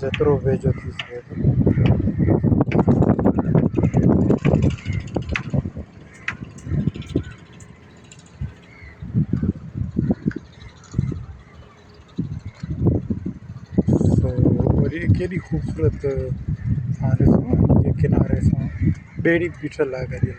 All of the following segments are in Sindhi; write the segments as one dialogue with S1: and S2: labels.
S1: جيترو ويجهو ٿي سگهي ٿو. ڪيڏي خوبصورت تھان ڏسو ھن جي ڪناري سان ٻيڙي بيٺل آھي گڏيل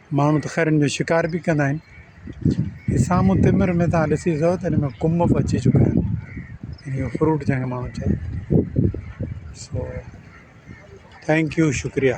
S1: ماڻهو ته خير ان جو شڪار به ڪندا آهن هي سامهون تمر ۾ تان ڏسي سگهو ته ان ۾ ڪنڀ به اچي چڪا آهن ان جو فروٽ جنهن کي ماڻهو چئي سو ٿينڪ يو شڪريا